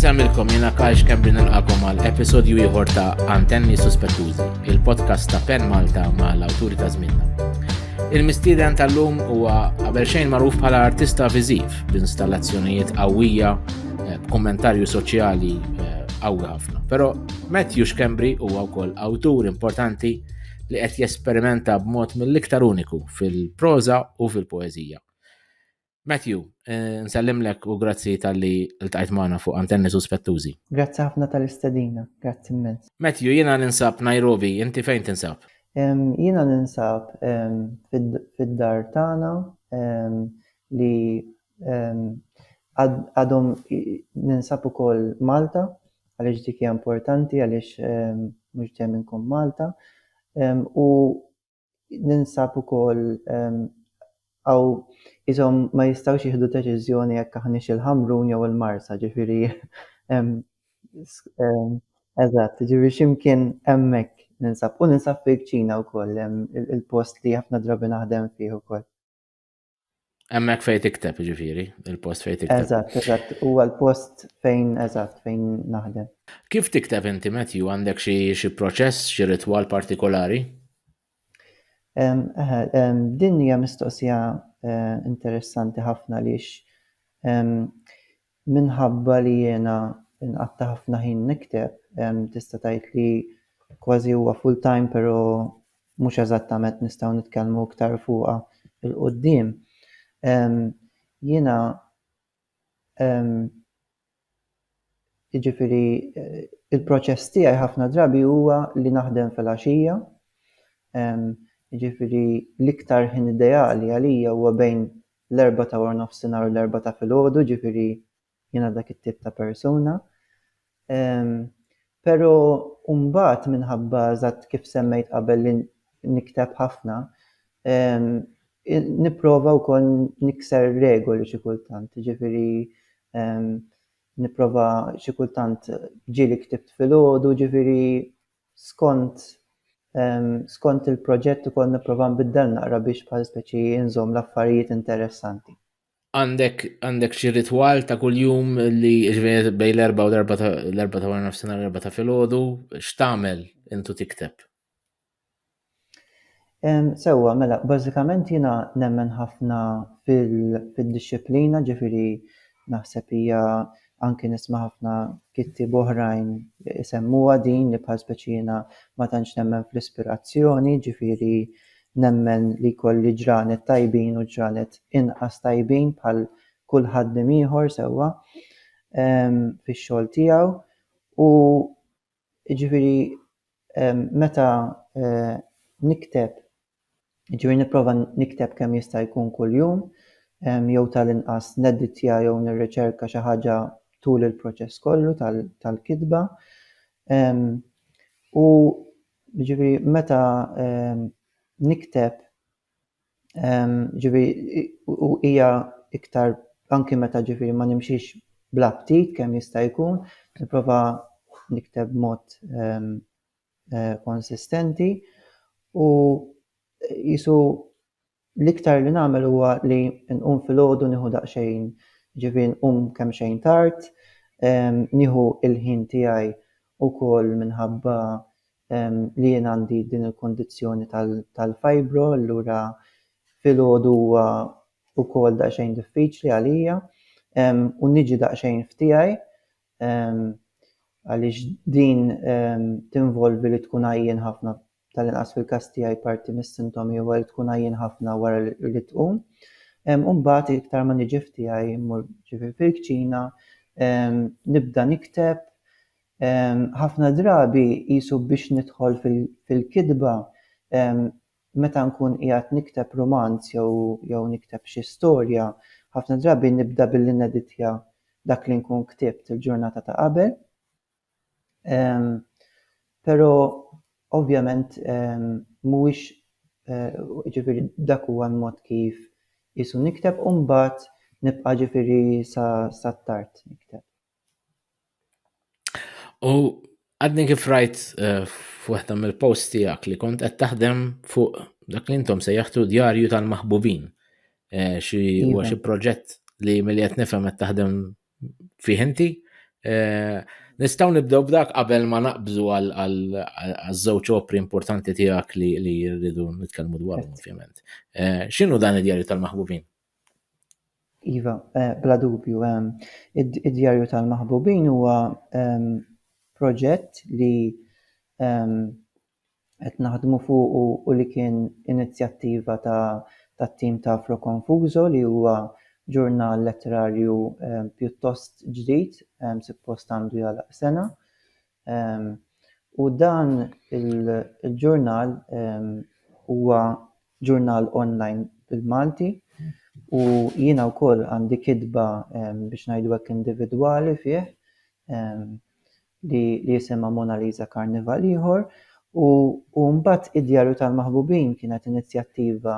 Nżamilkom jena Kajx Kembri nilqakom għal episodju ieħor ta' Antenni Suspettużi, il-podcast ta' Pen Malta ma' l-awturi ta' żminna. Il-mistieden tal-lum huwa qabel xejn magħruf bħala artista viżiv b'installazzjonijiet qawwija eh, b'kommentarju soċjali eh, qawwi ħafna. Però Matthew Kembri huwa wkoll awtur importanti li qed jesperimenta b'mod mill-iktar uniku fil-proża u fil-poeżija. Matthew, eh, nsellimlek u grazzi tal-li l-tajt maħna fuq antenni suspettużi. Grazzi ħafna tal-istedina, grazzi immens. Matthew, jina ninsab Nairobi, inti fejn tinsab? Jina ninsab fid-dar tana li għadhom ninsab ukoll Malta għaliex dik hija importanti għaliex mhux dejjem inkun Malta u Ninsab ukoll hawn ishom ma jistgħux jieħdu deċiżjoni jekk aħniex il-Ħamrun jew il-Marsa, ġifieri eżatt, ġifieri xi mkien hemmhekk ninsab. U ninsab fil-kċina wkoll, il-post li ħafna drabi naħdem fih ukoll. Hemmhekk fejn tikteb ġifieri, il-post fejn tikteb. Eżatt, eżatt, huwa l-post fejn eżatt fejn naħdem. Kif tikteb inti Matthew għandek xi proċess, xi ritwal partikolari? Din hija mistoqsija eh, interessanti ħafna lix Minħabba li jiena nqatta' ħafna ħin nikteb, tista' tgħid li kważi huwa full-time pero' mhux eżattament nistgħu nitkellmu iktar fuqha 'l quddiem. Jiena jiġifieri l-proċess tiegħi ħafna drabi huwa li naħdem filgħaxija, jiġifieri l-iktar ħin ideali għalija huwa bejn l-erbgħa ta' warnofsinhar u l-erbgħa ta' filgħodu, ġifieri jiena dak it-tip ta' persuna. Però mbagħad minħabba eżatt kif semmejt qabel li nikteb ħafna, nipprova wkoll nikser regoli xi kultant, ġifieri nipprova xi kultant ġieli ktibt filgħodu, ġifieri skont skont il-proġett ukoll nipprova nbiddel naqra biex bħal speċi nżomm l-affarijiet interessanti. Għandek għandek xi ritwal ta' kuljum li ġveri bej l-erba' u l-erba' ta' l-erba' ta' wara nofsinhar l-erba' ta' filgħodu, x'tagħmel intu tikteb? Sewwa, mela, bażikament jiena nemmen ħafna fid-dixxiplina, ġifieri naħseb hija anki nisma' ħafna kittieb oħrajn isemmuha din li bħal speċi jiena ma tantx nemmen fl-ispirazzjoni, ġifieri nemmen li jkolli ġranet tajbin u ġranet inqas tajbin bħal kull ħaddiem ieħor sewwa fix-xogħol tiegħu u Jiġifieri meta nikteb, jiġifieri nipprova nikteb kemm jista' jkun kuljum, jew tal-inqas nedditja jew nirriċerka xi ħaġa tul il-proċess kollu tal-kitba. U jiġifieri meta nikteb, Ġifieri u hija iktar anki meta ġifieri ma nimxix bla ftit kemm jista' jkun, nipprova nikteb b'mod konsistenti u qisu l-iktar li nagħmel huwa li nqum filgħodu nieħu daqsxejn, ġifieri nqum kemxejn tard, nieħu l-ħin tiegħi ukoll minħabba li jien għandi din il-kundizzjoni tal-fibro allura filgħodu huwa wkoll daqsxejn diffiċli għalija u niġi daqsxejn f'tiegħi għaliex din tinvolvi li tkun għajjien ħafna tal-inqas fil-każ tiegħi parti mis-sintomi huwa li tkun għajjien ħafna wara li tqum. U mbagħad iktar ma niġi f'tiegħi mmur ġifi fil-kċina, nibda nikteb, ħafna drabi qisu biex nidħol fil-kitba meta nkun qiegħed nikteb rumanz jew nikteb xi storja, ħafna drabi nibda billi neditja dak li nkun ktibt il-ġurnata ta' qabel. Però ovvjament mhuwiex, jiġifieri dak huwa l-mod kif qisu nikteb u mbagħad nibqa' jiġifieri sa sa tard nikteb. U għadni kif rajt f'waħda mill-posts tiegħek li kont qed taħdem fuq dak li intom sejjaħtu djarju tal-maħbubin. Xi huwa xi proġett li milli qed nifhem qed taħdem fih inti. Eh, Nistaw nibdew b'dak qabel ma naqbżu għal-żewġ opri importanti tiegħek li rridu nitkellmu dwarhom ovvjament. Eh, x'inhu dan id-djarju tal-maħbubin? Iva, eh, bla dubju, id-djarju tal-maħbubin huwa proġett li qed naħdmu fuqu u li kien inizjattiva tat-tim ta' Afro Confuso li huwa ġurnal letterarju pjuttost ġdid, suppost għandu jagħlaq sena. U dan il-ġurnal huwa ġurnal online bil-Malti u jiena wkoll għandi kitba biex ngħidu hekk individwali fih li jisimha Mona Lisa Karnival ieħor u u mbagħad Id-Djarju tal-Maħbubin kienet inizjattiva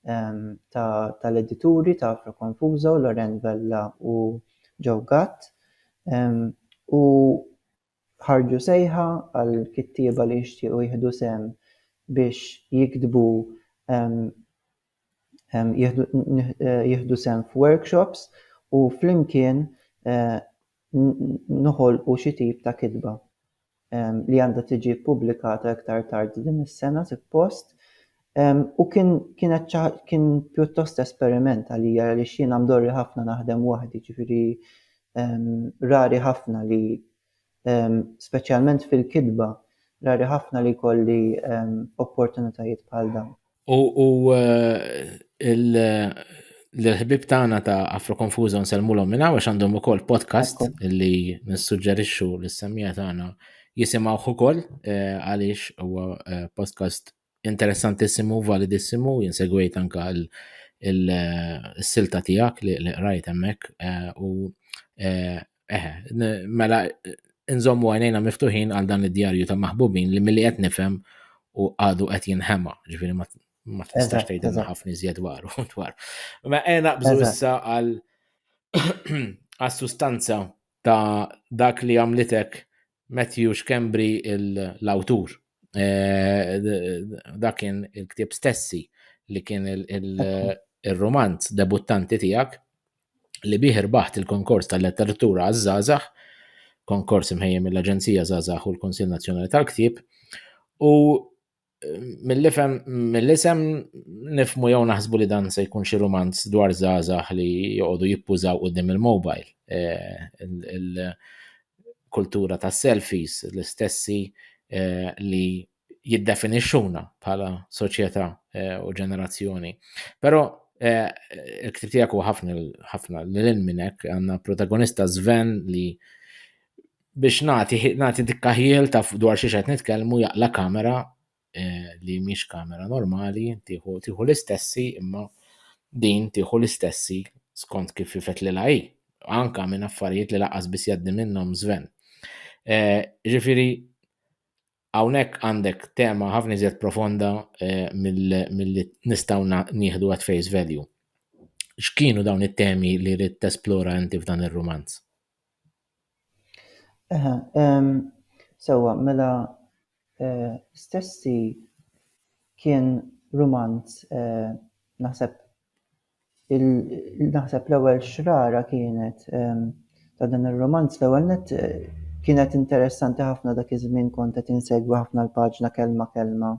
ta' tal-edituri ta' Afro Confuso, Loren Vella u Joe Gatt u ħarġu sejħa għal kittieba li jixtiequ jieħdu sehem biex jiktbu jieħdu sehem f'workshops u flimkien noħolqu xi tip ta' kitba li għandha tiġi ppubblikata iktar tard din is-sena suppost. U kien kienet kien pjuttost esperiment għalija għaliex jiena mdorri ħafna naħdem waħdi, ġifieri rari ħafna li Speċjalment fil-kitba, rari ħafna li jkolli opportunitajiet bħal dawn. U l-ħbib tagħna ta' Afro Confuso nsellmulhom minn hawn għax għandhom ukoll podcast li nissuġġerixxu lis-semmija tagħna jisimgħuh ukoll eh, għaliex huwa eh, podcast Interessantissimu, validissimu, jien segwejt anka il-silta tiegħek li qrajt hemmhekk eh, u eh, eh mela nżommu għajnejna miftuħin għal dan id-djarju ta' maħbubin li milli qed nifhem u għadu qed jinħema, ġifieri ma tistax tgħidilna ħafna iżjed dwaru dwar. Ma għena bżu issa għal għas-sustanza ta' dak li għamlitek Matthew Schembri l-awtur. Dak kien il-ktieb stessi li kien il-romanz debuttanti tiegħek li bih irbaħt il-konkors tal-letteratura għaż-żgħażagħ, konkors imħejjem mill-Aġenzija Żgħażagħ u l-Kunsill Nazzjonali tal-Ktieb, u mill-ifem, mill-isem nifmu jew naħsbu li dan se jkun xi rumanz dwar żgħażagħ li joqogħdu jippużaw qudiem il-mobile. Eh, kultura ta' selfies l-istessi eh, li jiddefinixxuna bħala soċjetà eh, u ġenerazzjoni. Però il-ktib tiegħek huwa ħafna ħafna lil minn hekk għandna protagonista Sven li biex nagħti nagħti dikka ħiel ta' dwar xi qed nitkellmu jaqla kamera eh, li mhix kamera normali, tieħu tieħu l-istessi imma din tieħu l-istessi skont kif ifet li hi. Anka minn affarijiet li laqas biss jgħaddi minnhom żven. Eh, ġifieri Hawnhekk għandek tema ħafna iżjed profonda eh, milli nistgħu nieħdu at face value. X'kienu dawn it-temi li rrid tesplora inti f'dan ir-rumanz? Eħe, sewwa, mela eh, stessi kien rumanz eh, naħseb Naħseb l-ewwel xrara kienet ta' dan ir-rumanz l-ewwel nett kienet interessanti ħafna dak iż-żmien kont qed insegwi ħafna l-paġna kelma kelma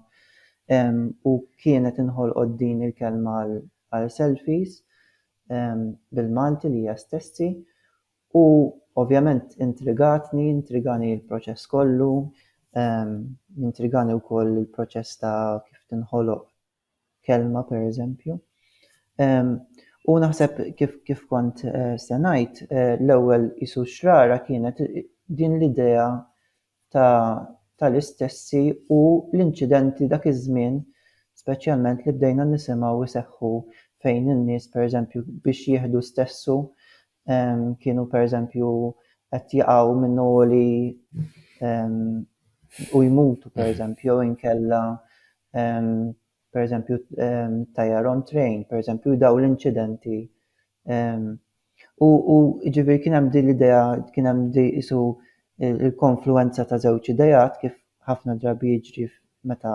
u kienet inħolqot din il-kelma għal selfies bil-Malti lija stessi u ovvjament intrigatni, intrigani l-proċess kollu, intrigani wkoll il-proċess ta' kif tinħoloq kelma pereżempju. U naħseb kif kif kont eh, se ngħid eh, l-ewwel isu xrara kienet din l-idea tal-istessi u l-inċidenti dak iż-żmien speċjalment li bdejna nisimgħu jseħħu fejn in-nies pereżempju biex jieħdu stessu kienu pereżempju qed jaqgħu minn għoli u jmutu pereżempju jew inkella pereżempju tajjar on train, pereżempju daw l-inċidenti. U ġifieri kien hemm din l-idea, kien hemm isu l-konfluwenza ta' żewġ ideat kif ħafna drabi jiġri meta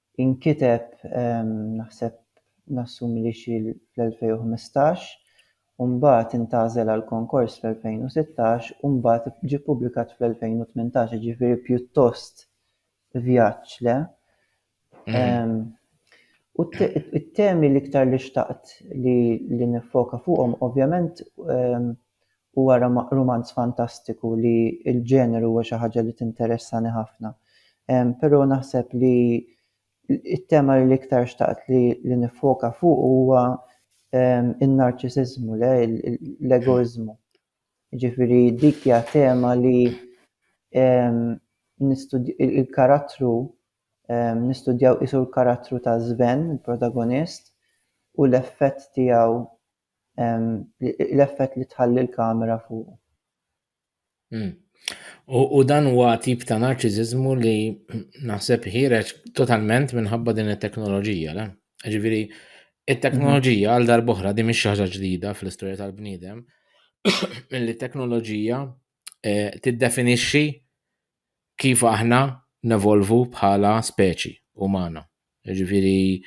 Inkiteb naħseb nassumi li xi fl-2015 u mbagħad intgħażel għall-konkors fl-2016 u mbagħad ġie ppubblikat fl-2018, jiġifieri pjuttost vjaġġ, le? U t-temi l-iktar li xtaqt li niffoka fuqhom ovvjament u wara ma' rumanz fantastiku li l-ġeneru huwa xi ħaġa li tinteressani ħafna. Però naħseb li t-tema li l-iktar xtaqt li niffoka fuqu huwa n-narċisiżmu, le, l-egoiżmu. Jiġifieri dik hija tema li l-karattru, nistudjaw qisu l-karattru ta' Sven, il-protagonist, u l-effett tiegħu l-effett li tħalli l-kamera fuq. Hmm. U dan huwa tip ta' narċiżiżmu li naħseb ħireġ totalment minħabba din it-teknoloġija, le? Ġifieri, it-teknoloġija għal darboħra di mhix ħaġa ġdida fl-istorja tal-bniedem, milli t-teknoloġija eh, tiddefinixxi kif aħna nevolvu bħala speċi umana. Ġifiri,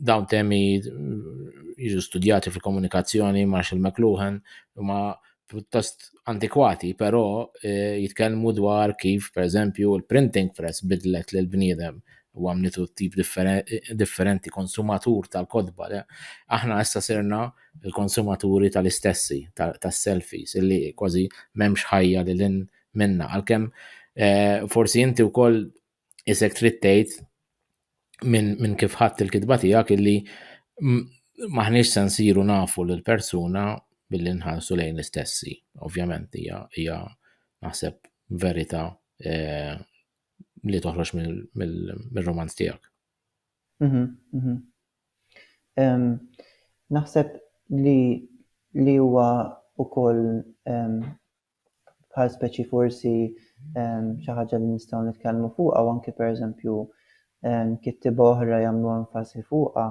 dawn temi jiġu studjati fil-komunikazzjoni Marshall McLuhan, ma pjuttost antikwati, però eh, jitkellmu dwar kif, per eżempju, il-printing press bidlet l bniedem u għamlitu tip differenti konsumatur tal-kodba. Aħna issa sirna il-konsumaturi tal-istessi, tas-selfies, illi kważi m'hemmx ħajja li lin minna. Għalkemm eh, forsi inti wkoll isek trid tgħid minn kif ħadd il-kitba tiegħek illi maħniex se nsiru nafu l persuna billi nħarsu lejn l-istessi. Ovvjament hija naħseb verità eh, li toħroġ mill-romanz tiegħek. Mhm, mhm. Naħseb li li huwa wkoll bħal speċi forsi xi ħaġa li nistgħu nitkellmu fuqha u anke pereżempju kittieba oħra jagħmlu enfasi fuqha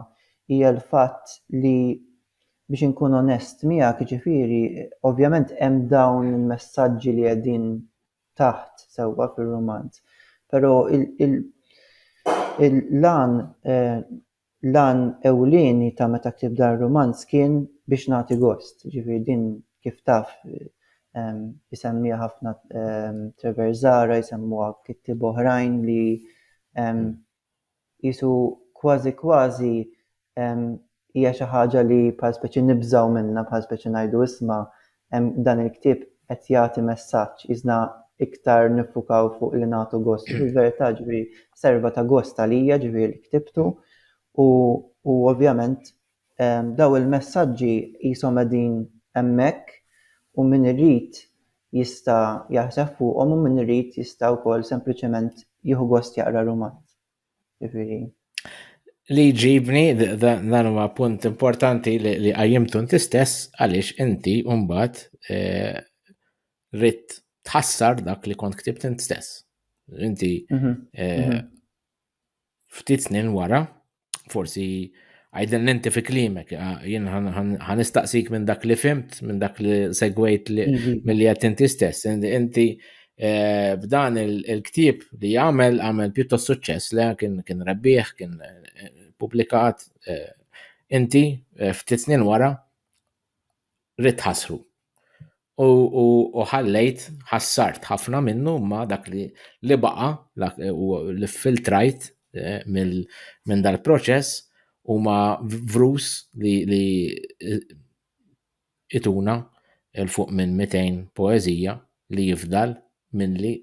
hija l-fatt li biex inkun onest miegħek jiġifieri ovvjament hemm dawn il-messaġġi li qegħdin taħt sewwa fir-rumanz. Però l-għan l-għan ewlieni ta' meta ktibt dan ir-rumanz kien biex nagħti gost. Jiġifieri din kif taf isemmiha ħafna Treverzara, jsemmuha kittieba oħrajn li qisu kważi kważi hija xi ħaġa li bħal speċi nibżgħu minnha, bħal speċi ngħidu isma' dan il-ktieb qed jagħti messaġġ, qisna iktar niffukaw fuq li nagħtu gost. Fil-verità ġifieri serva ta' gost għalija ġifieri li ktibtu u ovvjament Dawn il-messaġġi qishom qegħdin hemmhekk u min irid jista' jaħseb fuqhom u min irid jista' wkoll sempliċement jieħu gost jaqra rumanz. Jiġifieri. Li jġibni dan huwa punt importanti li qajjimtu inti stess għaliex inti mbagħad eh, ritt tħassar dak li kont ktibt int stess. Inti mhm. Eh, mhm. ftit snin wara forsi għajdin l-inti fi klimek, ah, jien ħanistaqsik minn dak li fimt, minn dak li segwejt mhm. mill-li għat inti stess. Inti eh, b'dan il-ktib li għamel, għamel pjuttost suċċess li kien rebbieħ, kien eh, publikat, eh, inti ftit snin wara, ridt ħasru. U, u, u ħallejt, ħassart ħafna minnu ma dak li, li baqa, u li filtrajt eh, minn dal-proċess u ma vrus li, li eh, ituna il-fuq minn 200 poezija li jifdal minn li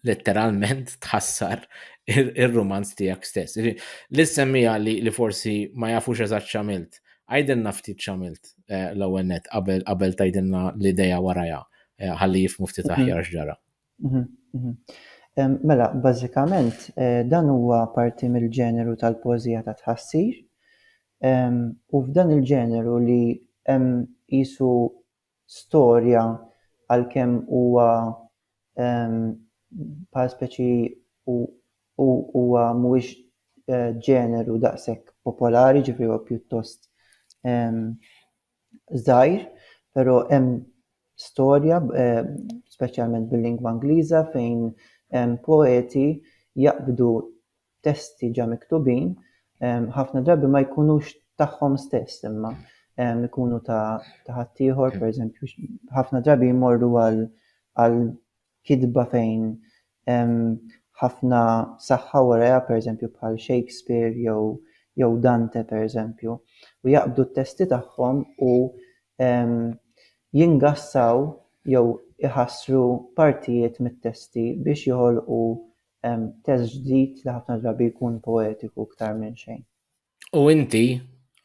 letteralment tħassar ir-rumanz tiegħek stess. Li semmija li, li forsi ma jafux eżatt xamilt. Għajdinna ftit xamilt eh, l-ewwel net qabel qabel tajdinna l-idea warajha eh, ħalli jifmu ftit mhm. aħjar x'ġara. Mhm, mhm. Mela, bażikament eh, dan huwa parti mill-ġeneru tal-pożija ta' tħassir. U f'dan il-ġeneru li hemm jisu storja għalkemm huwa bħala speċi hu huwa mhuwiex ġeneru daqshekk popolari, ġifieri huwa pjuttost żgħir, però hemm storja speċjalment bil-lingwa Ingliża fejn poeti jaqbdu testi ġa miktubin ħafna drabi ma jkunux tagħhom stess imma jkunu ta' ħaddieħor, per eżempju, ħafna drabi jmorru għal kitba fejn ħafna saħħa waraja, per eżempju, bħal Shakespeare jew jew Dante, per eżempju, u jaqbdu t-testi tagħhom u jingassaw jew iħassru partijiet mit-testi biex joħolqu Hemm test ġdid li ħafna drabi jkun poetiku iktar minn xejn. U inti,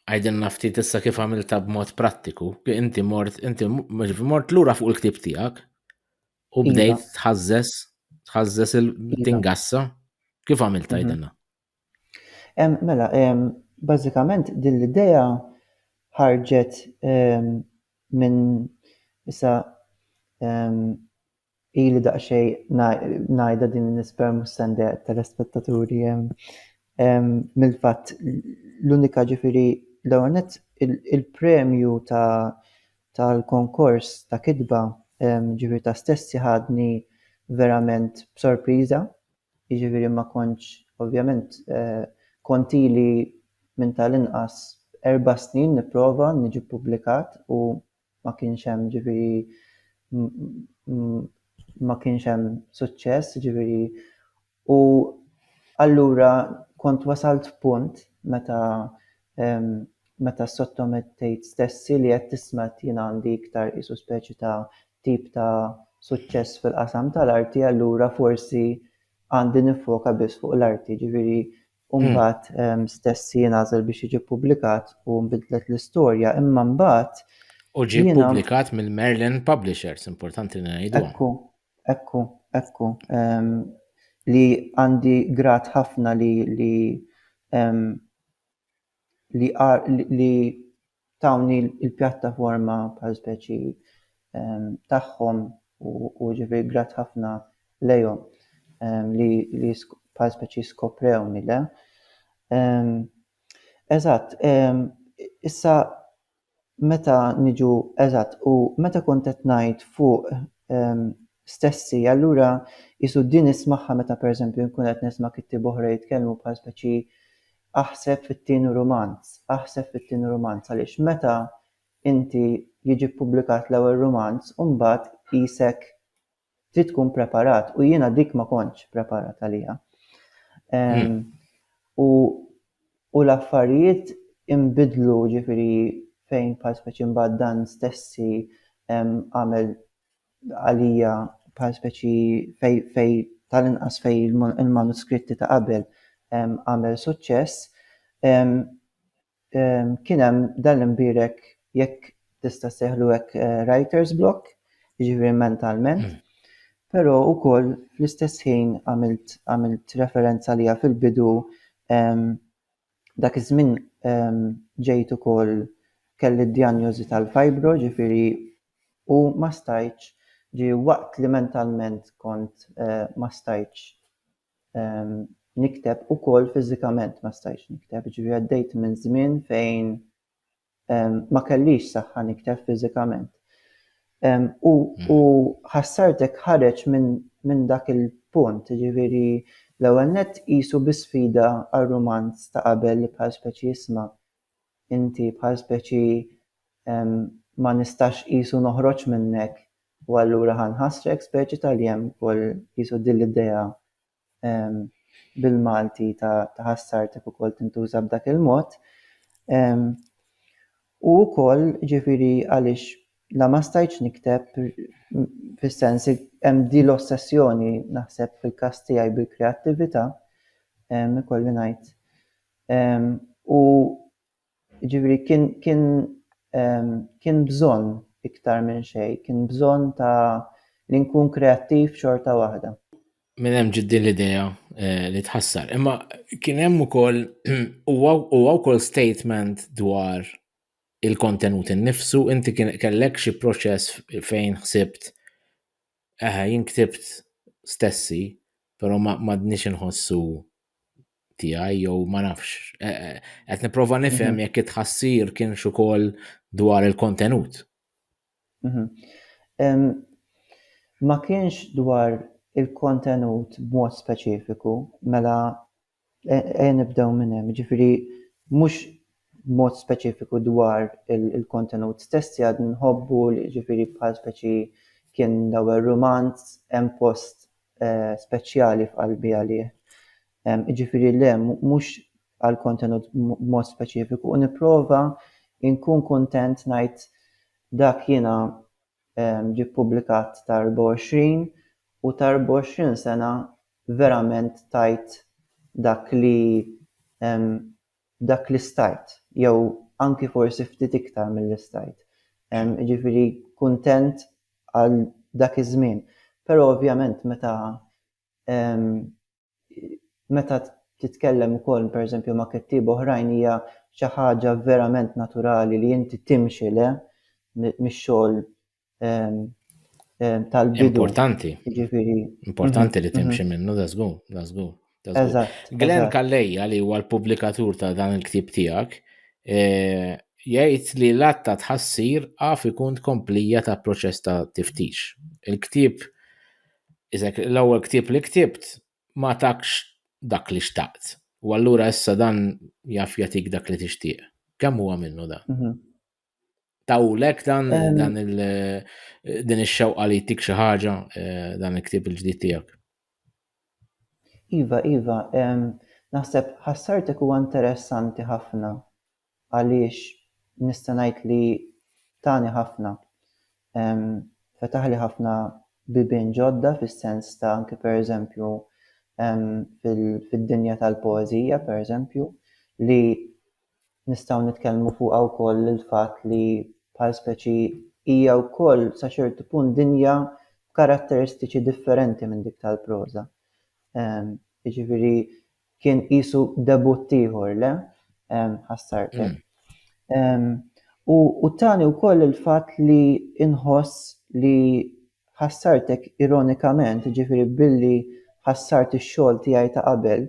għidilna ftit issa kif għamilta b'mod prattiku, inti mort, inti mort lura fuq il-ktib tiegħek u iva. bdejt tħażżes, tħażżes il-tingassa. Iva. Kif għamilta mhm. għidilna? Mela, bażikament din l-idea ħarġet minn issa ili daqsxejn ngħidha din nisper mhux se ndeqq telespettaturi mill-fatt l-unika ġifieri l-ewwel nett il-premju tal-konkors ta' kitba ġifieri ta' stessi ħadni verament b'sorpriża. jiġifieri ma kontx ovvjament kont ili minn tal-inqas erba' snin nipprova niġi ppubblikat u ma kienx hemm jiġifieri ma kienx hemm suċċess jiġifieri u allura kont wasalt f'punt meta meta ssottomettejt stessi li qed tisma' qed jien għandi iktar qisu speċi ta' tip ta' suċċess fil-qasam tal-arti allura forsi għandi nifoka biss fuq l-arti, ġifieri hmm. mbagħad ehm, stess jingħażel biex jiġi ppubblikat u nbidlet l-istorja, imma mbagħad U ġie ppubblikat mill-Merlin Publishers, importanti li ngħidu. Ekku, ekku, ekku. Ehm, li għandi grat ħafna li li ehm, li li tawni l-pjattaforma bħal speċi tagħhom u ġifieri grat ħafna lejhom li li bħal speċi skoprewni le. Eżatt, issa meta niġu eżatt u meta kont qed ngħid fuq stessi allura qisu din ismagħha meta pereżempju nkun qed nisma' kittieba oħra jitkellmu bħal speċi aħseb fit-tieni rumanz, aħseb fit-tieni rumanz għaliex meta inti jiġi ppubblikat l-ewwel rumanz u mbagħad qisek trid tkun preparat u jiena dik ma kontx preparat għaliha. Hmm. U u l-affarijiet imbidlu ġifiri fejn bħal speċi mbagħad dan stessi għamel għalija bħal speċi fej, fej tal-inqas fej il-manuskritti ta' qabel għamel suċċess. Kien hemm dan l-imbierek jekk tista' ssejħlu hekk writer's block, jiġifieri mentalment, però wkoll fl-istess ħin għamilt għamilt referenza għaliha fil-bidu dak iż-żmien ġejt ukoll kelli d-djanjożi tal-fibro, ġifieri u ma stajtx, ġifieri waqt li mentalment kont ma stajtx nikteb ukoll fiżikament ma stajtx nikteb, ġifieri għaddejt minn żmien fejn ma kellix saħħa nikteb fiżikament. U mm. ħassartek ħareġ minn dak il-punt, ġifieri l-ewwel nett qisu bi sfida għar-rumanz ta' qabel li bħal speċi jisma' inti bħal speċi ma nistax qisu noħroġ minnek u allura ħa nħassrek speċi tal-jemb ukoll qisu din l-idea bil-Malti ta' ħassartek ukoll tintuża b'dak il-mod. U wkoll ġifieri għaliex la ma stajtx nikteb fis-sens hemm din l-ossessjoni naħseb fil-każ tiegħi bil-kreattività ikolli ngħid Ehm, u jiġifieri kien kien ehm, kien bżonn iktar minn xejn, kien bżonn ta' li nkun kreattiv xorta waħda. Minn hemm ġiet din l-idea eh, li tħassar. Imma kien hemm ukoll huwa huwa wkoll statement dwar il-kontenut innifsu, inti kien kellek xi proċess fejn ħsibt Eħe, jien ktibt stessi, però m'għadniex inħossu tiegħi jew ma nafx. E, e, qed nipprova nifhem mhm. jekk it-tħassir kienx ukoll dwar il-kontenut. Mhm. Ma kienx dwar il-kontenut b'mod speċifiku, mela Ejja nibdew minn hemm, jiġifieri mhux b'mod speċifiku dwar il-kontenut stess tiegħu qed nħobbu jiġifieri bħal speċi kien l-ewwel rumanz hemm post speċjali f'qalbi għalih. Jiġifieri le mhux għall-kontenut b'mod speċifiku u nipprova nkun kuntent ngħid dak jiena ġie ppubblikat ta' 24 u ta' 24 sena verament tajt dak li dak li stajt jew anki forsi ftit iktar milli stajt. Jiġifieri kuntent għal dak iż-żmien. Però ovvjament meta meta titkellem ukoll pereżempju ma' kittieba oħrajn hija xi ħaġa verament naturali li inti timxi le mix-xogħol tal-bidu. Importanti. Jiġifieri. Importanti li mhm, mhm. timxi minnu, da żgur, da żgur. Glenn Kalleja li huwa l-pubblikatur ta' dan il-ktib tiegħek e, jgħid li l-atta tħassir għaf ikun tkomplija ta' proċess ta' tiftix. Il-ktib, l-ewwel ktib li ktibt ma takx dak li xtaqt. U allura issa dan jaf jatik dak li tixtieq. Kemm huwa minnu dan? Mhm. Tawlek dan dan il din ix-xewqa li jtik xi ħaġa eh, dan il-ktieb il-ġdid tiegħek. Iva, iva, naħseb ħassartek huwa interessanti ħafna għaliex nista' ngħid li tani ħafna. Fetaħli ħafna bibien ġodda fis-sens ta' anke pereżempju fid-dinja tal-poeżija pereżempju li Nistgħu nitkellmu fuqha wkoll il-fatt li bħal speċi hija wkoll sa ċertu punt dinja b'karatteristiċi differenti minn dik tal-proża. Jiġifieri kien qisu debutt ieħor, le? Ħassartek. Hmm. U tani wkoll il-fatt li inħoss li ħassartek ironikament, ġifieri billi ħassart ix-xogħol tiegħi ta' qabel,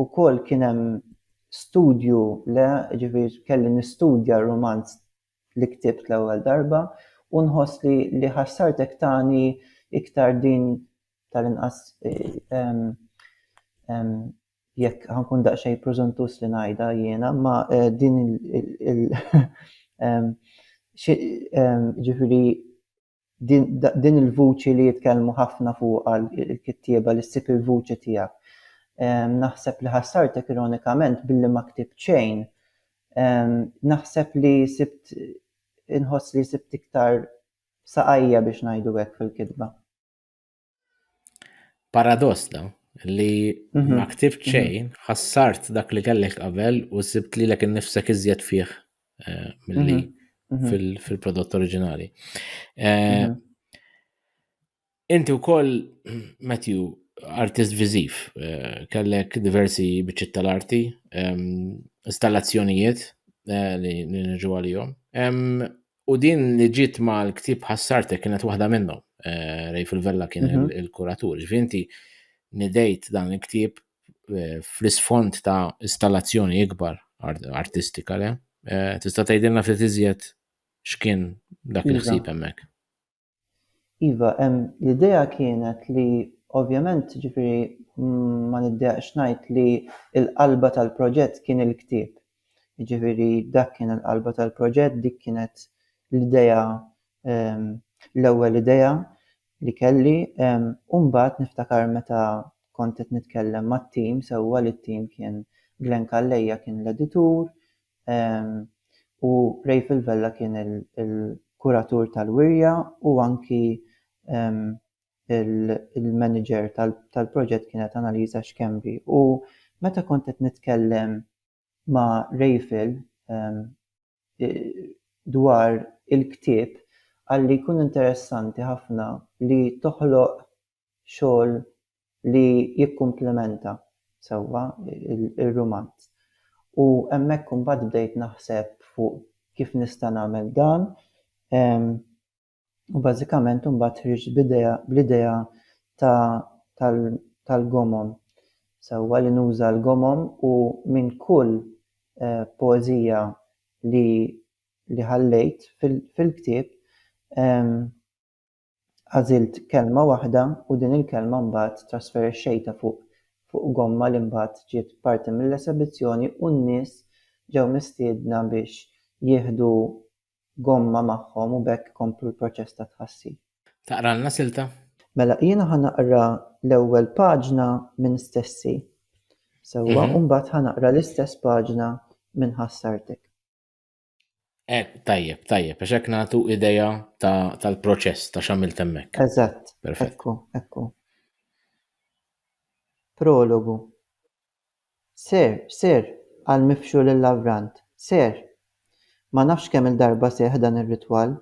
ukoll kien hemm studju le ġifier kelli nistudja r-rumanz li ktibt l-ewwel darba u nħoss li li ħassartek tani iktar din tal-inqas jekk ħankun daqsxejn preżuntuż li ngħidha jiena ma din il ġifieri din il-vuċi li jitkellmu ħafna fuqha l-kittieba li ssib il-vuċi tiegħek. Ehm, naħseb li ħassartek ironikament billi ma ktib xejn. Ehm, naħseb li sibt inħoss li sibt iktar saqajja biex ngħidu hekk fil-kitba. Paradoss da, li mhm. ma ktibt mhm. xejn, ħassart dak li kellek qabel u sibt li l-ek nifsek iżjed fih eh, mill-li mhm. fil-prodott oriġinali. Eh, inti u koll, Matthew, artist viziv, eh, kellek diversi bieċit tal-arti, ehm, installazzjonijiet li nġu għal-jom. Ehm, U din li ġiet ma l-ktib ħassartek kienet waħda minnhom. Eh, Rej fil-Vella kien mhm. il-kuratur. Ġvinti nidejt dan il-ktib eh, fl-isfond ta' installazzjoni ikbar artistika le. Eh, tista' tgħidilna ftit iżjed x'kien dak il-ħsieb hemmhekk. Iva, l-idea kienet li ovvjament ġifiri ma niddejaqx ngħid li l-qalba tal-proġett kien il-ktieb. Ġifiri dak kien il-qalba tal-proġett, dik kienet l-idea ehm, l-ewwel idea li kelli. Ehm, u mbagħad niftakar meta kont qed nitkellem mat-tim sewwa li t-tim kien Glenn Calleja kien l-editur, u Raphael Vella kien il-kuratur tal-wirja u anki il-manager tal-proġett kienet Annalisa Schembri. U meta kont qed nitkellem ma' Raphael dwar il-ktieb qalli jkun interessanti ħafna li toħloq xogħol li jikkumplementa sewwa r-rumanz. U hemmhekk imbagħad bdejt naħseb fuq kif nista' nagħmel dan u bażikament imbagħad ħriġt b'idea bl-idea ta' tal tal-gomom sewwa li nuża l-gomom u minn kull poeżija li li ħallejt fil-ktieb Għażilt kelma waħda u din il-kelma mbagħad trasferexxejtha fuq fuq gomma li mbagħad ġiet parti mill-esebizzjoni u n-nies ġew mistiedna biex jieħdu gomma magħhom u b'hekk komplu l-proċess ta' tħassir. Taqralna silta? Mela jiena ħa naqra l-ewwel paġna minn stessi, sewwa, u mbagħad ħa naqra l-istess paġna minn ħassartek. Eh, tajjeb, tajjeb, għax hekk nagħtu idea tal-proċess ta' x'għamil temmek. Eżatt. Perfett. Ekku, ekku. Prologu. Ser, ser, għal mifxu lil lavrant Ser. Ma nafx kemm il-darba seħ dan ir-ritwal.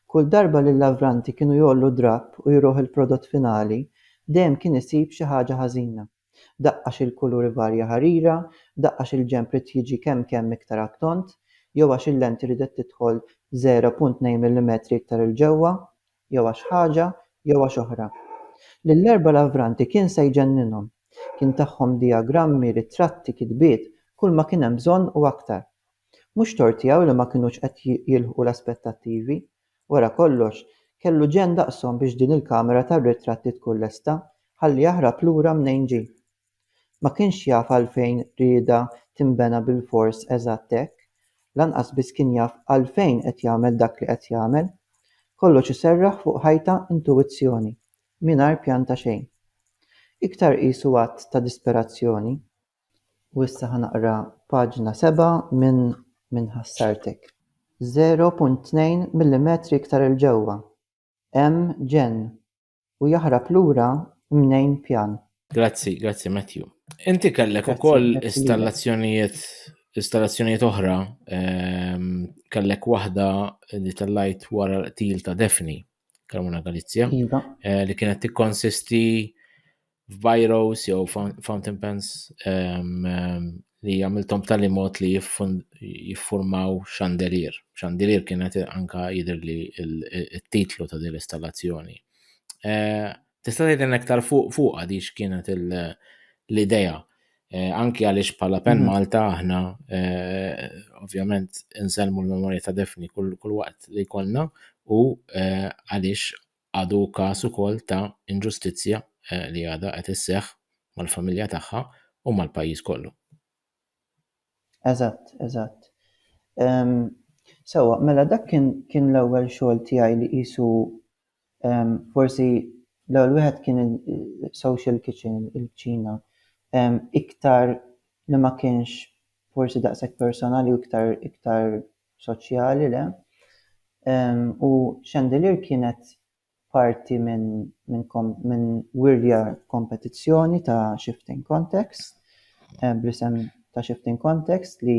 Kull darba li l-lavranti kienu jollu drapp u jruħ il-prodott finali, dejjem kien isib xi ħaġa ħażina. Daqqa xi l-kulur ivarja ħarira, daqqa xi l-ġenb ried jiġi kemm kemm iktar għat-tond, jew għax il-lenti riedet tidħol 0.2 millimetri iktar 'il ġewwa, jew għax ħaġa jew għax oħra. Lill-erba' lavranti kien se jġenninhom. Kien tagħhom dijagrammi, ritratti, kitbiet, kulma kien hemm bżonn u aktar. Mhux tort tiegħu li ma kinux qed jilħqu l-aspettattivi, Wara kollox, kellu ġenn daqshom biex din il-kamera tar-ritratti tkun lesta, ħalli jaħrab lura mnejn ġie. Ma kienx jaf għalfejn riedha tinbena bilfors eżatt hekk, lanqas biss kien jaf għalfejn qed jagħmel dak li qed jagħmel. Kollox iserraħ fuq ħajta intuwizzjoni, mingħajr pjan ta' xejn. Iktar qisu att ta' disperazzjoni. U issa ħa naqra paġna seba' minn minn ħassartek. 0.2 millimetri iktar 'il ġewwa, hemm ġenn, u jaħrab lura mnejn pjan. Grazzi, grazzi Matthew. Inti kellek ukoll installazzjonijiet installazzjonijiet oħra, ehm, kellek waħda li tellajt wara l-qtil ta' Daphne. Carmona Galizia, iva. eh, li kienet tikkonsisti f'bajros jew fountain pens um, um, li għamiltom tal mod li jiffurmaw xandelier. Xandelier kienet anka jidher li il-titlu ta' din l-installazzjoni. Eh, Tista' tgħidilna iktar fuq fuqha di x'kienet l-idea eh, anki għaliex bħala Pen mhm. Malta aħna eh, ovvjament insellmu l-memorja ta' Defni kull waqt li jkollna u eh, għaliex għadu każ ukoll ta' inġustizzja li għadha qed isseħħ mal-familja tagħha u mal-pajjiż kollu. Eżatt, eżatt. Ehm, sewwa, mela dak kien kien l-ewwel xogħol tiegħi li qisu ehm, forsi l-ewwel wieħed kien il-social kitchen, il-kċina. Ehm, iktar li ma kienx forsi daqshekk personali u iktar iktar soċjali, le? Ehm, u Chandelier kienet parti minn wirja kompetizzjoni ta' Shifting Context bl-isem ta' Shifting Context li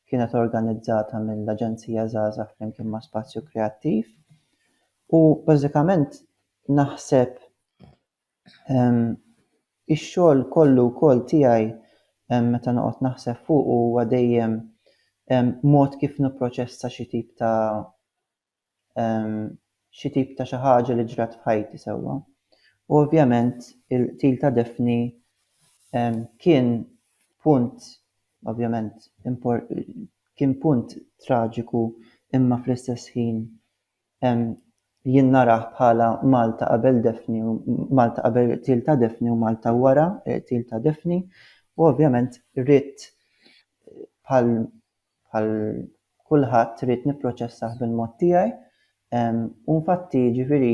kienet organizzata mill-Aġenzija Żgħażagħ flimkien ma' Spazju Kreattiv u bażikament naħseb ix-xogħol kollu wkoll tiegħi meta noqgħod naħseb fuqu huwa dejjem mod kif nipproċessa xi tip ta' xi tip ta' xi ħaġa li ġrat f'ħajti sewwa. U ovvjament il-qtil ta' Daphne kien punt ovvjament kien punt traġiku imma fl-istess ħin jien narah bħala Malta qabel Daphne u Malta qabel il-qtil ta' Daphne u Malta wara il-qtil ta' Daphne u ovvjament ridt bħal Bħal kulħadd ridt nipproċessah bil-mod tiegħi u nfatti jiġifieri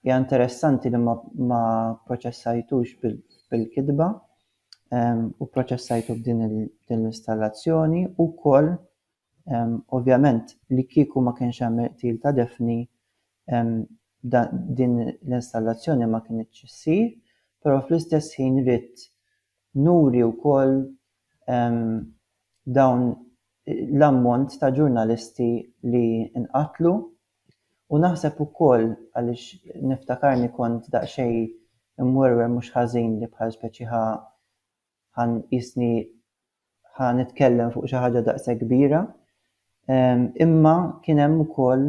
hija interessanti li ma pproċessajtux bil-kitba u pproċessajtu b'din l-installazzjoni u wkoll ovvjament li kieku ma kienx hemm il-qtil ta' Daphne din l-installazzjoni ma kinitx issir però fl-istess ħin ridt nuri wkoll dawn l-ammont ta' ġurnalisti li nqatlu u naħseb ukoll għaliex niftakarni kont daqsxejn imwerwer mhux ħażin li bħal speċi ħa ħa nqisni ħa nitkellem fuq xi ħaġa daqshekk kbira imma kien hemm ukoll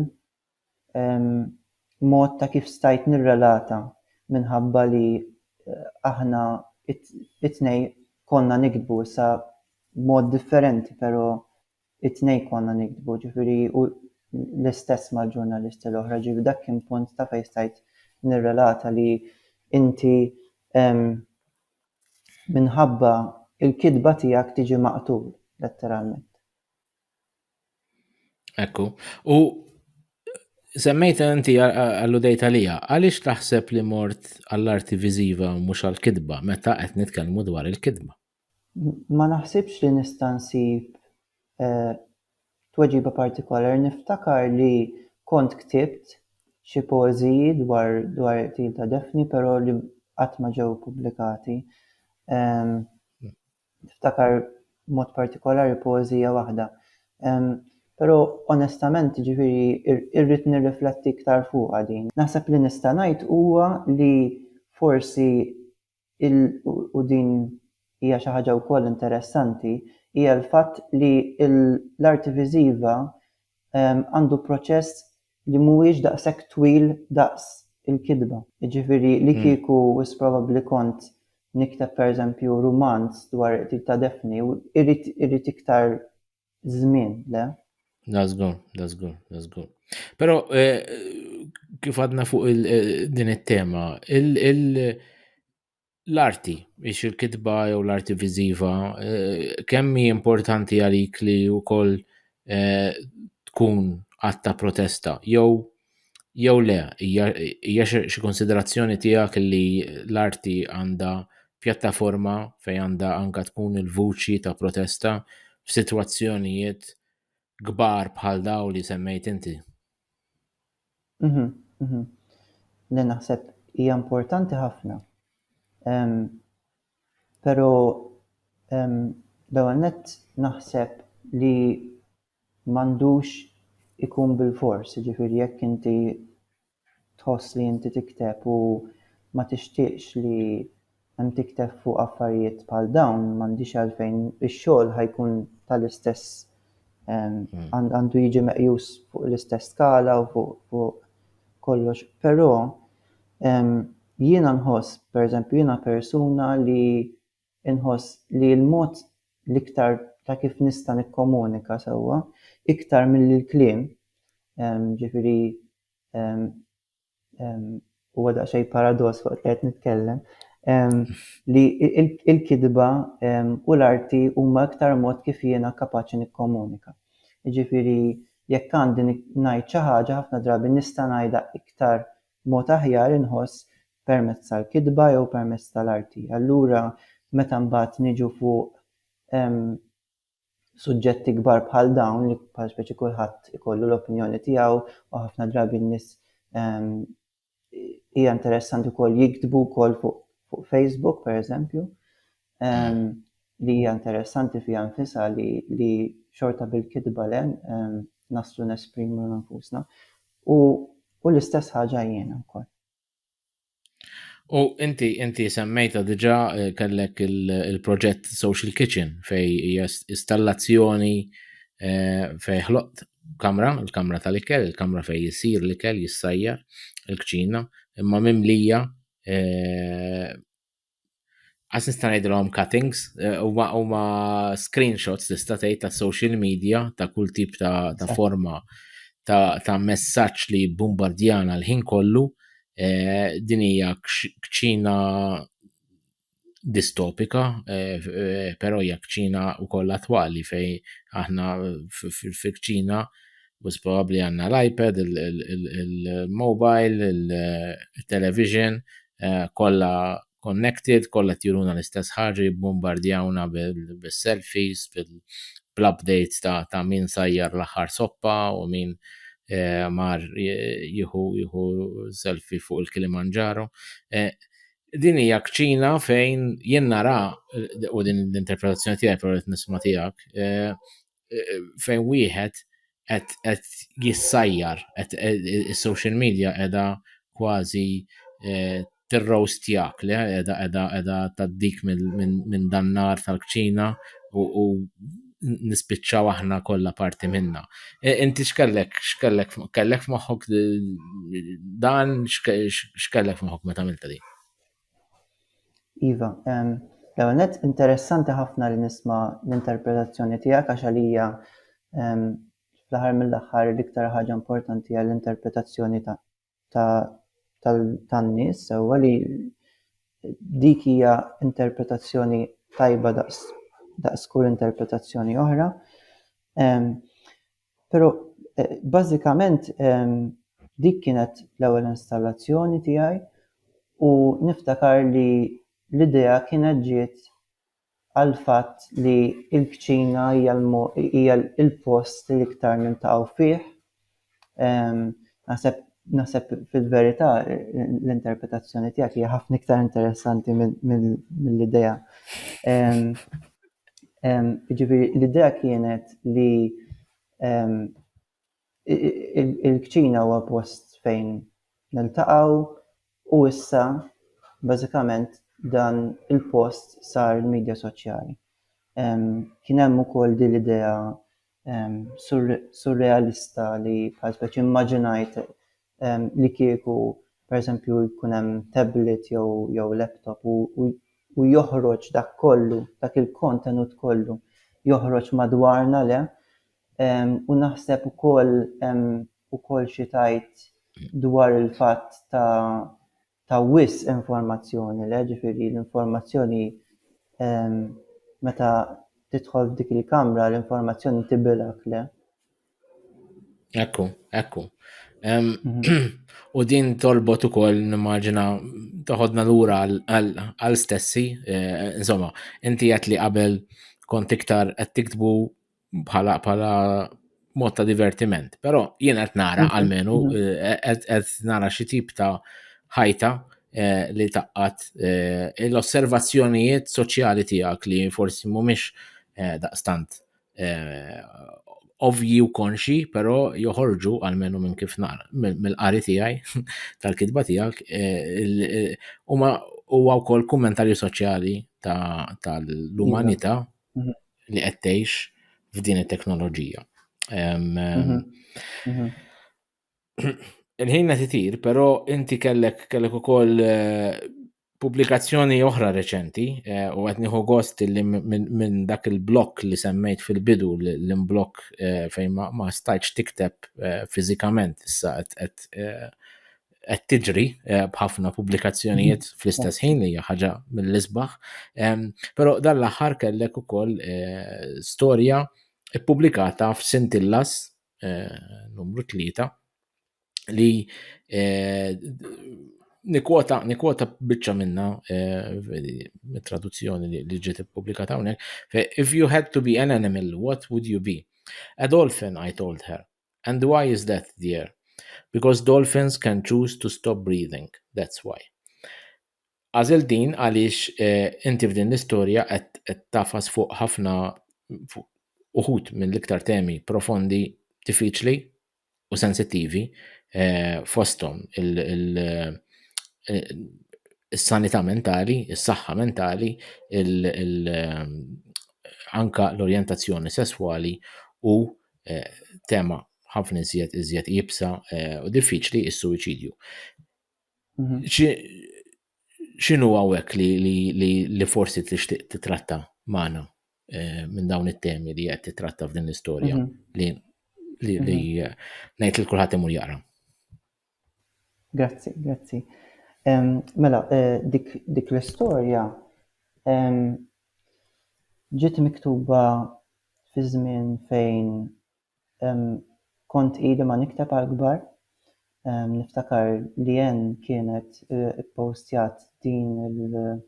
hemm mod ta' kif stajt nirrelata minħabba li aħna it-tnejn konna niktbu issa b'mod differenti pero it-tnejn konna niktbu ġifieri u l-istess mal-ġurnalisti l-oħra ġifieri dak kien punt ta' fejn stajt nirrelata li inti minħabba il-kitba tiegħek tiġi maqtul letteralment. Ekku. U semmejt inti għallu dejta lija, għaliex taħseb li mort għall-arti viżiva u mhux għall-kitba meta qed nitkellmu dwar il-kitba? Ma naħsibx li nista' nsib eh, tweġiba partikolari. Niftakar li kont ktibt xi poeżiji dwar dwar il-qtil ta' Daphne, però li qatt ma ġew ippubblikati. Ehm, niftakar b'mod partikolari poeżija waħda. Però onestament jiġifieri irrid nirrifletti iktar fuqha din. Naħseb li nista' ngħid huwa li forsi il u din hija xi ħaġa wkoll interessanti hija l-fatt li l-arti viżiva għandu proċess li mhuwiex daqshekk twil daqs il-kitba. Jiġifieri li kieku wis probabbli kont nikteb pereżempju rumanz dwar il-qtil ta' Daphne, irrid iktar żmien, le? La żgur, la żgur, la żgur. Però kif għadna fuq din it-tema, l-arti, biex il-kitba jew l-arti viżiva, eh, kemm hi importanti għalik li wkoll eh, tkun għatta protesta jew jew le hija xi konsiderazzjoni tiegħek li l-arti għandha pjattaforma fejn għandha anka tkun il-vuċi ta' protesta f'sitwazzjonijiet kbar bħal daw li semmejt inti. Le naħseb hija importanti ħafna. Però l-ewwel nett naħseb li m'għandux ikun bilfors, jiġifieri jekk inti tħoss li inti tikteb u ma tixtieqx li hemm tikteb fuq affarijiet bħal dawn m'għandix għalfejn ix-xogħol ħajkun tal-istess hmm. għandu jiġi meqjus fuq l-istess skala u fuq kollox. Però jiena nħoss, pereżempju, jiena persuna li nħoss li l-mod l-iktar ta' kif nista' nikkomunika sewwa iktar mill-kliem, ġifiri huwa daqsxejn paradoss waqt li qed nitkellem li il-kidba u l-arti huma iktar mod kif jiena kapaċi nikkomunika. Jiġifieri jekk għandi ngħid xi ħaġa ħafna drabi nista' ngħidha iktar mod aħjar inħoss permezz tal-kidba jew permezz tal-arti. Allura meta mbagħad niġu fuq suġġetti kbar bħal dawn li bħal speċi kulħadd ikollu l-opinjoni tiegħu u ħafna drabi n-nies ehm, hija interessanti wkoll jiktbu wkoll fuq fu Facebook pereżempju ehm, li hija interessanti fiha nfisha li, li xorta bil-kitba le ehm, naslu nesprimu nfusna. U, u l-istess ħaġa jiena wkoll. U inti inti semmejta diġà eh, kellek il-proġett Social Kitchen fej hija installazzjoni eh, fej ħloqt kamra, il-kamra tal-ikel, il-kamra fej jisir l-ikel, jissajja, il-kċina, imma mimlija eh, Għas nista' ngħidilhom cuttings, eh, huma huma screenshots tista' tgħid ta' social media ta' kull tip ta', ta forma ta', ta messaġġ li bombardjana l-ħin kollu eh, din hija kċina distopika, eh, però hija kċina wkoll attwali fej aħna fil-kċina bus probabbli għandna l-iPad, il-mobile, il-television, il eh, kollha connected, kollha tjuruna l-istess ħarri, bombardjawna bil-selfies, bil-updates ta', ta min sajjar l-aħħar soppa u min eh, mar eh, jihu jihu selfie fuq il-Kilimanġaro. Eh, din hija kċina fejn jien nara u din l-interpretazzjoni tiegħi però qed nisma' tiegħek, fejn wieħed qed jissajjar, is-social media qiegħda kważi eh, tirrowstjak li qiegħda qiegħda qiegħda taddik minn dan nar tal-kċina u nispiċċaw aħna kollha parti minna. E, inti x'kellek x'kellek kellek f'moħħok dan x'kellek f'moħħok meta għamilta din? Iva, l-ewwel nett interessanti ħafna li nisma' l-interpretazzjoni tiegħek għax għalija fl-aħħar mill-aħħar l-iktar ħaġa importanti hija l-interpretazzjoni tan-nies sewwa li dik hija interpretazzjoni tajba daqs kull interpretazzjoni oħra. Pero bażikament dik kienet l-ewwel installazzjoni tiegħi u niftakar li l-idea kienet ġiet għall-fatt li l-kċina hija l-post li l-iktar niltaqgħu fih. Naħseb naħseb fil-verità l-interpretazzjoni tiegħek hija ħafna iktar interessanti mill-idea. Jiġifieri l-idea kienet li l-kċina huwa post fejn niltaqgħu u issa bażikament dan il-post sar il-midja soċjali. Kien hemm ukoll din l-idea surrealista li bħal speċi immaġinajt li kieku pereżempju jkun hemm tablet jew jew laptop u u joħroġ dak kollu, dak il-kontenut kollu joħroġ madwarna le u naħseb ukoll hemm ukoll xi tajt dwar il-fatt ta' ta' wisq informazzjoni, le, ġifieri l-informazzjoni meta tidħol f'dik il-kamra l-informazzjoni tibilak, le. Ekku, ekku. Mhm. U din tolbot ukoll nimmaġina toħodna lura għal stessi, eh, insomma, inti qed li qabel kont iktar qed tiktbu bħala bħala mod ta' divertiment. Però jien qed nara mhm, għalmenu mhm. Eh, eh, qed nara xi tip ta' ħajta eh, li taqqat l-osservazzjonijiet soċjali tiegħek li forsi mhumiex daqstant ovji u konxi, però joħorġu għalmenu minn kif nara, mill-qari tiegħi tal-kitba tiegħek, huma huwa wkoll kummentarju soċjali tal-umanità mhm. li qed tgħix f'din it-teknoloġija. Mhm. Mhm. Il-ħina titir, però inti kellek kellek ukoll eh, pubblikazzjoni oħra reċenti eh, u qed nieħu gost li minn dak il-blok li semmejt fil-bidu l-imblok eh, fejn ma stajtx tikteb fiżikament issa qed qed tiġri eh, b'ħafna pubblikazzjonijiet mhm. fl-istess ħin li hija ħaġa mill-isbaħ. Però dan l-aħħar kellek ukoll eh, storja ppubblikata f'Sintillas eh, numru tlieta li nikwota nikwota biċċa minna traduzzjoni li ġiet ippubblikata hawnhekk. If you had to be an animal, what would you be? A dolphin, I told her. And why is that dear? Because dolphins can choose to stop breathing, that's why. Għażilt din għaliex eh, inti f'din l-istorja qed tafas fuq ħafna uħud minn l-iktar temi profondi, diffiċli u sensittivi eh, fosthom il- is-sanità mentali, is-saħħa mentali, ehm, anka l-orjentazzjoni sesswali u eh, tema ħafna iżjed iżjed jibsa eh, u diffiċli is-suwiċidju. Mhm. X'inhu hawnhekk li forsi tixtieq titratta magħna eh, minn dawn it-temi li qed titratta f'din l-istorja mhm. li mhm. ngħid li kulħadd imur jaqra. Grazzi, grazzi. Mela, dik dik l-istorja ġiet miktuba fi żmien fejn kont ili ma nikteb għall-kbar. Niftakar li Ann kienet ippostjat din il-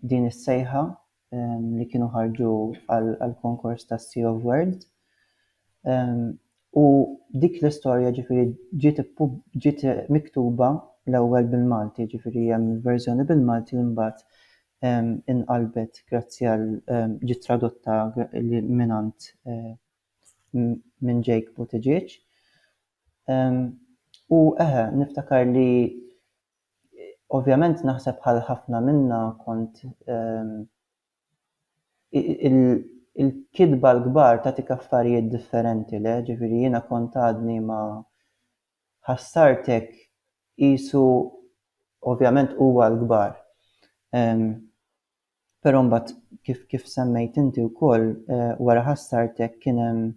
din is-sejħa li kienu ħarġu għall-konkors ta' Sea of Words. U dik l-istorja ġifiri ġiet miktuba l-ewwel bil-Malti, ġifiri hemm verżjoni bil-Malti li mbagħad inqalbet grazzi għal ġiet tradotta mingħand minn Jake Buttigieg. U eħe, niftakar li Ovvjament naħseb bħal ħafna minna kont il-kitba l-kbar tagħtik affarijiet differenti le, ġifieri jiena kont għadni ma ħassart hekk qisu ovvjament huwa l-kbar. Però mbagħad kif kif semmejt inti wkoll wara ħassart hekk kien hemm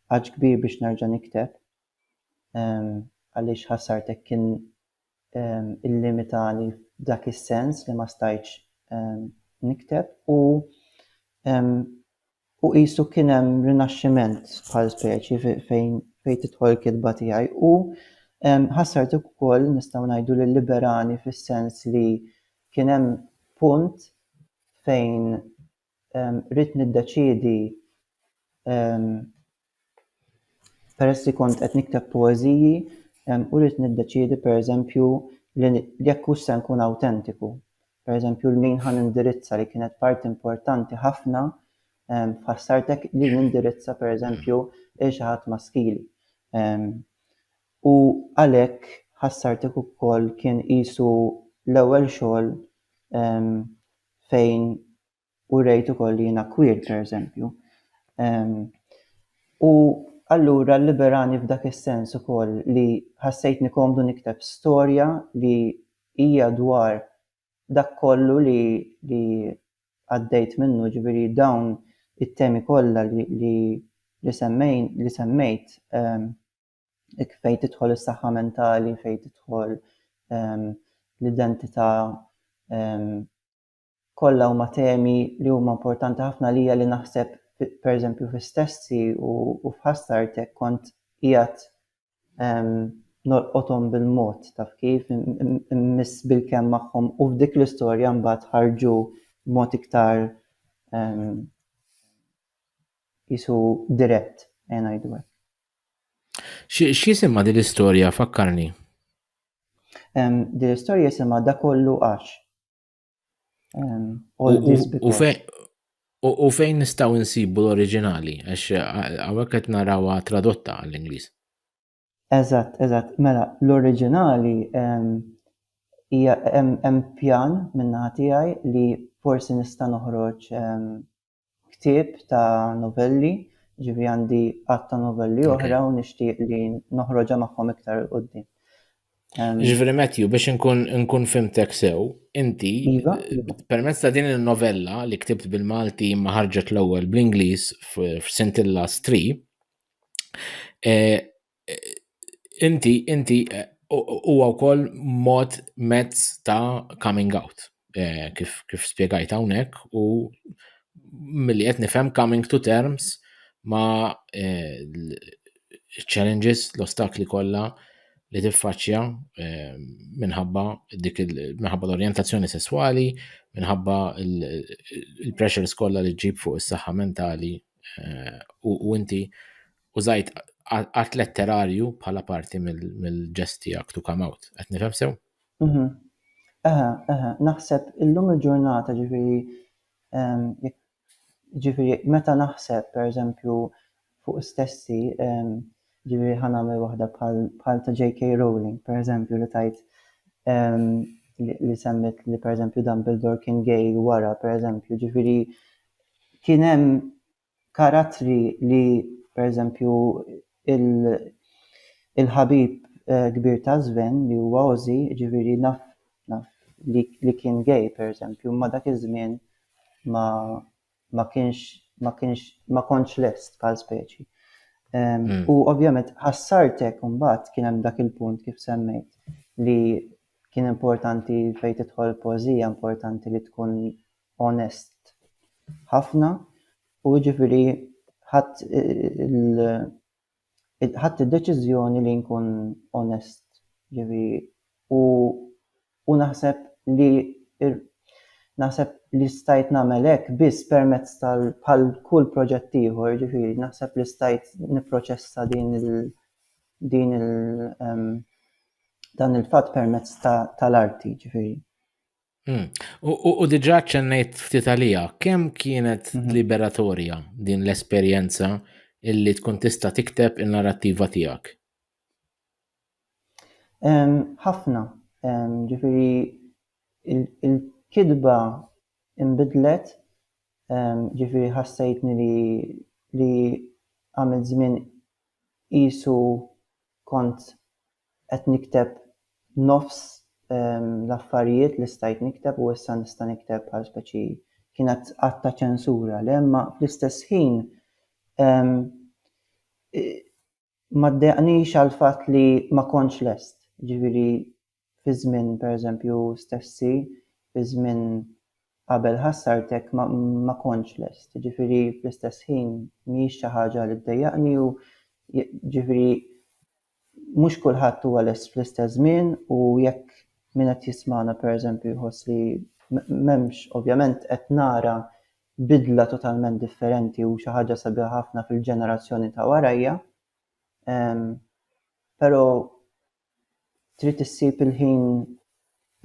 għatx kbir biex nerġa' nikteb għaliex ħassart hekk kien illimitani f'dak is-sens li ma stajtx nikteb u u qisu kien hemm rinaxximent bħal speċi fejn fejn tidħol il-kitba tiegħi u ħassart ukoll nistgħu ngħidu li liberani fis-sens li kien hemm punt fejn rrid niddeċiedi peress li kont qed nikteb poeżiji u rrid niddeċiedi pereżempju li jekk hux se nkun awtentiku. Pereżempju l-min ħa nindirizza li kienet parti importanti ħafna f'ħassartek li nindirizza pereżempju lil xi ħadd maskili. U għalhekk ħassartek ukoll kien qisu l-ewwel xogħol fejn urejt ukoll li jiena queer, pereżempju. U allura liberani f'dak is-sens ukoll li ħassejtni komdu nikteb storja li hija dwar dak kollu li li għaddejt minnu, ġifieri dawn it-temi kollha li li semmejt. fejn tidħol is-saħħa mentali, fejn tidħol ehm, l-identità ehm, kollha huma temi li huma importanti ħafna lija li naħseb pereżempju fi stessi u, u f'ħassartek kont qiegħed ehm, nolqothom bil-mod taf kif miss bil-kemm magħhom u f'dik l-istorja mbagħad ħarġu b'mod iktar jisu dirett, għajdu għek. X'jisimha din l-istorja fakkarni? Din l-istorja jisimha da kollu għax. U fejn nistaw insibu l-oriġinali, għax għawek qed narawa tradotta għall-Ingliż. Eżatt, eżatt. Mela, l-oriġinali hemm pjan minna tiegħi li forsi nista' noħroġ ktieb ta' novelli, ġifieri għandi għadd ta' novelli oħra u nixtieq li noħroġha magħhom iktar il qudiem Ġifieri Matthew biex nkun fimtek sew, inti iva, iva. permezz ta' din il-novella li ktibt bil-Malti ma ħarġet l-ewwel bl-Ingliż f'Sintilla Stree, eh, inti, inti, eh, huwa wkoll mod mezz ta' coming out. Eh, kif, kif spiegajt hawnhekk u milli qed nifhem coming to terms ma' eh, challenges, l-ostakli kollha li tiffaċċja eh, minħabba dik minħabba l-orjentazzjoni sesswali, minħabba il-pressures kollha li ġib fuq is-saħħa mentali eh, u inti użajt art letterarju bħala parti mill-ġest tiegħek to come out. Qed nifhem sew? Mhm. Eħe, eħe, naħseb illum il-ġurnata ġifieri ehm, ġifieri meta naħseb pereżempju fuq stessi ehm, ġifieri ħa nagħmel waħda bħal ta' J.K. Rowling pereżempju li tajt ehm, li semmit li pereżempju Dumbledore kien gay wara pereżempju ġifieri kien hemm karattri li pereżempju il-ħabib kbir ta' Sven li huwa Ozzy, jiġifieri naf naf li kien gay pereżempju imma dak iż-żmien ma ma kienx ma kienx ma kontx lest bħal speċi. U ovvjament ħassartek imbagħad kien hemm dak il-punt kif semmejt li kien importanti fejn tidħol poeżija importanti li tkun onest ħafna u jiġifieri ħadt ħadt id-deċiżjoni li nkun onest ġifieri u u naħseb li naħseb li stajt nagħmel hekk biss permezz tal bħal kull proġett ieħor ġifieri naħseb li stajt nipproċessa din il din il dan il-fatt permezz tal-arti ġifieri. Hmm. U diġa ċennejt ftit għalija, kemm kienet mhm. liberatorja din l-esperjenza illi tkun tista tikteb il-narrativa tijak? ħafna, ġifiri il-kidba imbidlet, ġifiri ħassejtni li għamil żmien qisu kont qed nikteb nofs l-affarijiet li stajt nikteb u issa nista' nikteb bħal speċi kienet att ta' ċensura le imma fl-istess ħin ma ddejaqnix għall-fatt li ma kontx lest, jiġifieri fi żmien pereżempju stessi fi żmien qabel ħassartek ma ma kontx lest, jiġifieri fl-istess ħin mhijiex xi ħaġa li ddejjaqni u jiġifieri mhux kulħadd huwa lest fl-istess żmien u jekk min qed jismagħna pereżempju jħoss li m'hemmx ovvjament qed nara bidla totalment differenti u xi ħaġa sabiħa ħafna fil-ġenerazzjoni ta' warajja, ehm, però trid issib il-ħin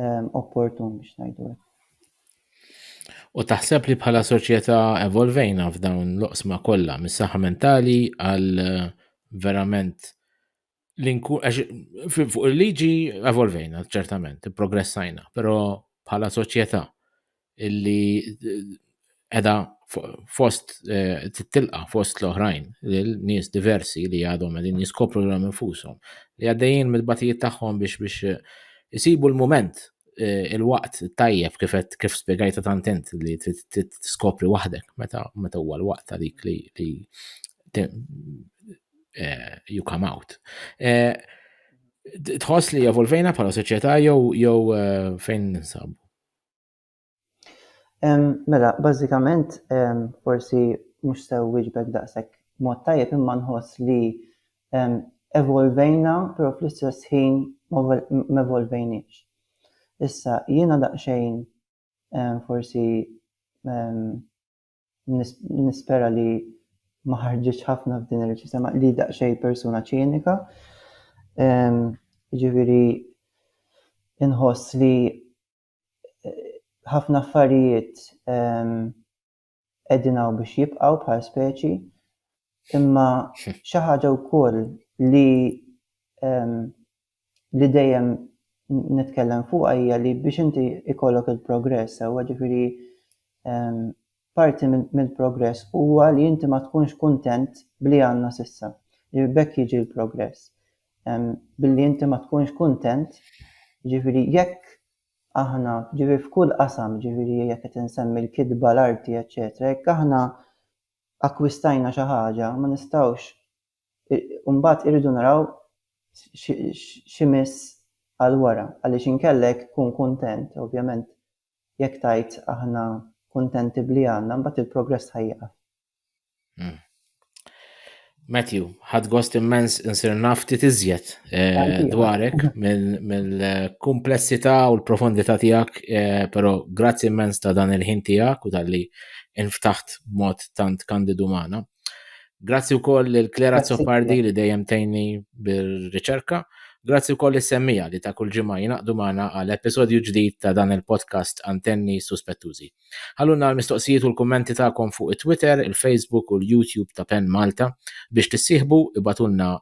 ehm, opportun biex ngħidu hekk. U taħseb li bħala soċjetà evolvejna f'dawn l-oqsma kollha mis-saħħa mentali għal eh, verament l-inku fuq il-liġi evolvejna ċertament, progressajna, però bħala soċjetà illi edha fost eh, tilqa fost l-oħrajn, l-nies diversi li għadhom għedin jiskopru l infushom li għaddejjin mill-batijiet tagħhom biex biex eh, isibu l-moment eh, il-waqt tajjeb kif kif spjegajta tantent li tiskopri waħdek meta meta huwa l-waqt għalik li li you come out. Tħoss li evolvejna bħala soċjetà jew jew fejn ninsabu? Mela, bażikament forsi mhux sew wieġbek daqshekk mod tajjeb imma nħoss li evolvejna però fl-istess ħin m'evolvejniex. Issa jiena daqsxejn forsi nispera li ma ħarġitx ħafna f'din ir-reċenza li daqsxejn persuna ċinika, jiġifieri inħoss li ħafna affarijiet qegħdin hawn biex jibqgħu bħal speċi, imma xi ħaġa wkoll li li dejjem nitkellem fuq hija li biex inti ikollok il-progress, huwa ġifieri Parti mill-progress huwa li inti ma tkunx kuntent b'li għandna s'issa. B'hekk jiġi l-progress. Billi inti ma tkunx kuntent, jiġifieri jekk aħna, jiġifieri f'kull qasam, jiġifieri jekk qed insemmi l-kitba, l-arti, eċċetera, jekk aħna akkwistajna xi ħaġa, ma nistgħux, u mbagħad irridu naraw x'imiss għal wara, għaliex inkella jekk tkun kuntent, ovvjament, jekk tgħid aħna kuntenti b'li għandna, mbagħad il-progress ħaj jieqaf. Hmm. Matthew, ħad gost immens insir naf ftit iżjed eh, dwarek mill-komplessità u l-profondità tiegħek, eh, però grazzi immens ta' dan il-ħin tiegħek u tal-li inftaħt mod tant kandidu magħna. Grazzi wkoll lil Clara Zoppardi li dejjem tejni bir-riċerka. Grazzi wkoll is-semmija li ta' kull ġimgħa jinaqdu magħna għal episodju ġdid ta' dan il-podcast Antenni Suspettużi. Ħalluna l-mistoqsijiet u l-kummenti tagħkom fuq it-Twitter, il-Facebook u l-YouTube ta' Pen Malta biex tissieħbu ibatulna